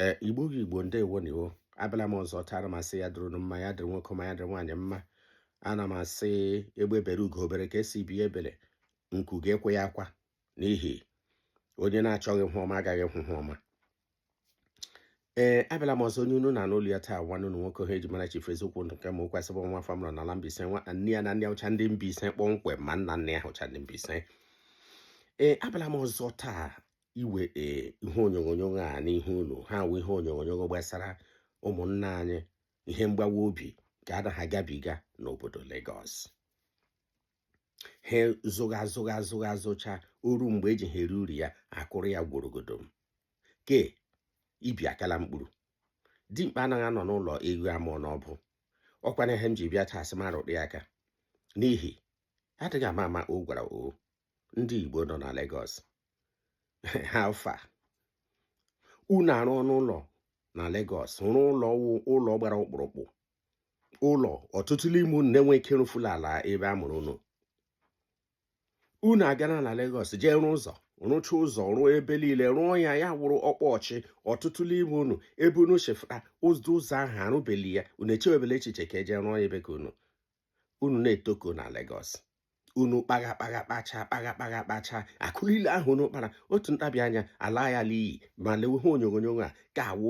ee igbo gị igbo ndewo nụ wo abịala m ọzọ taa ana m asị ya dịrị mma ya dịrị nwoke mma ya dịrị nwaanyị mma ana m asị egbe bere ugo bere nke sị ibe ebela nku ga-akwa ya akwa n'ihi onye na-achọghị ihe ọma agaghị ahụ ihe ọma ee abịala m ọzọ onye unu na-anụ olu ya taa nwanne unu nwoke ha eji mara chifu eziokwu ndụ nke ma ụkwụ asịbụ nwa afọ mụrụ n'ala Mbaise nwa nne ya na nna ya wụcha ndị Mbaise kpọmkwem ma nna nne ya wụcha ndị Mbaise ee abịala m ọzọ taa iwe ee ihe onyonyo a n'ihu unu ha wụ ihe onyonyo gbasara ụmụnna anyị ihe mgbawa obi ka ana ha agabiga n'obodo Lagos ha zụgha zụgha zụgha zụcha o ruo mgbe eji ha eri uru ya akụrụ ya gworogodom ke ibi akala mkpụrụ dimkpa anaghị anọ n'ụlọ eghu amụọ n'ọbụ ọkwana ihe m ji bịa taa asị m rụtụ aka n'ihi adịghị ama ama o gwara o ndị Igbo nọ na Lagos ha fa unu arụ ọnụ ụlọ na Lagos rụọ ụlọ ụlọ gbara ọkpụrụkpụ ụlọ ọtụtụ n'ime unu na-enweghị ike ịrụfu n'ala ebe a mụrụ unu unu agaa na na Lagos jee rụọ ụzọ rụcha ụzọ rụọ ebe niile rụọ ya ya wụrụ ọkpọchị ọtụtụ n'ime unu ebe unu si fụta ụzọ ụzọ ahụ arụbeghị ya unu echewebela echiche ka eje rụọ ya ebe ka unu unu na-etoko na Lagos unu kpagha kpagha kpacha kpagha kpagha kpacha akụ niile ahụ unu kpara otu ntabi anya ala ya n'iyi ma lewe ihe onyonyo a ga-awụ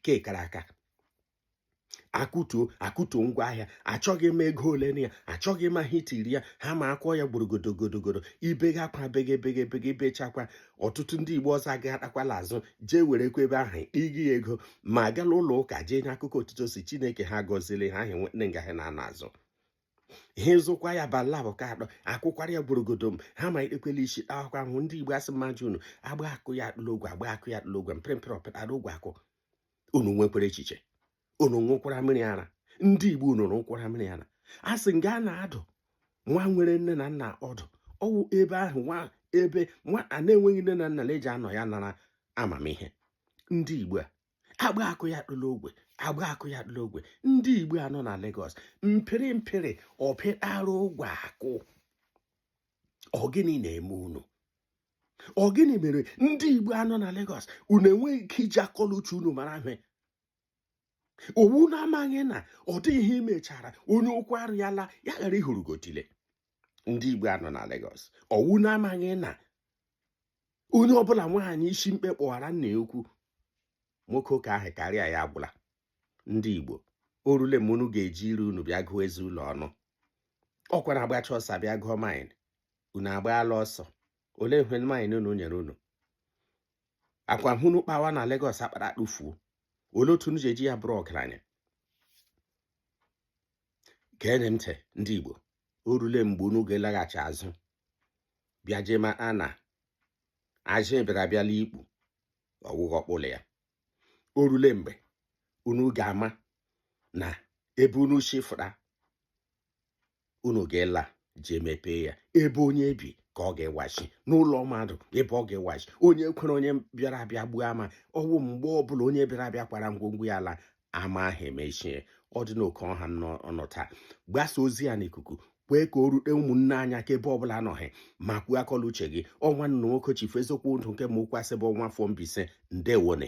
ke kara aka akụtuo akụtuo ngwa ahịa achọghị ịma ego ole na ya achọghị ịma ihe i tiri ya ha ma akụọ ya gborogodogodogodo i bega akwa bege bege bege i bechakwa ọtụtụ ndị igbo ọzọ agaghachikwala azụ jee werekwa ebe ahụ ịgị ya ego ma gala ụlọ ụka jee nye akụkọ otu o si chineke ha gọziri ha ahịa nwere nga ha na-anọ azụ ihe zụkwa ya bala bụ ka adọ akụkwara ya gborogodom ha amalitekwala isi akwa ahụ ndị igbo asị m ajụ unu agbaa akụ ya atụ l'ogwe agbaa akụ ya atụ l'ogwe mpịrị mpịrị ọ pịara ogwe akụ unu nwekwara echiche unu ṅụkwara mmiri ara ndị igbo unu ṅụkwara mmiri ara a sị nga a na-adụ nwa nwere nne na nna ọdụ ọ wụ ebe ahụ nwa ebe nwa a na-enweghị nne na nna na-eji anọ ya nara amamihe ndị igbo a agbaa akụ ya atụ l'ogwe agbaa akụ ya atụ l'ogwe ndị igbo a nọ na Lagos mpịrị mpịrị ọ pịara ogwe akụ ọ gịnị na-eme unu ọ gịnị mere ndị igbo a nọ na Lagos unu enweghị ike iji akọ l'uche unu mara ihe ọ wụ unu amaghị na ọ dịghị ihe i mechara onye okwu arị ala ya ghara ịhụrụ gị otile ndị igbo a nọ na Lagos ọ wụ unu amaghị na onye ọbụla nwaanyị isi mkpe kpọwara nna ya ukwu nwoke ụka ahụ karịa ya agwụla ndị Igbo orule mgbe unu ga-eji ire unu bịa gụọ eze unu ọnụ ọkwa na agbacha ọsọ bịa gụọ maịl unu agbaala ọsọ olee ihe maịl unu nyere unu akụ ahụ unu kpawa na Lagos akpara akpụfuo olee otu unu ji eji ya bụrụ ọgaranya geenị ntị ndị Igbo orule mgbe unu ga-elaghachi azụ bịa jee maa na ajị bịara abịa la ikpu ọwụghị ọkpụlọ ya o rule mgbe unu ga-ama na ebe unu si fụta unu ga-ela jee mepee ya ebe onye bi ka ọ ga-ewachi n'ụlọ mmadụ ebe ọ ga-ewachi onye kwere onye bịara abịa gbuo ama ọwụ mgbe ọbụla onye bịara abịa kwara ngwongwo ya ala ama ahụ emechie ọ dị n'oke ọha nọ taa gbasa ozi a n'ikuku kwee ka o rute ụmụnne anyị aka ebe ọbụla anọ hị ma kwuo akọ la uche gị ọ nwanne unu nwoke chifu eziokwu ndụ nke ma ụkwasị bụ nwa afọ Mbaise ndewo nụ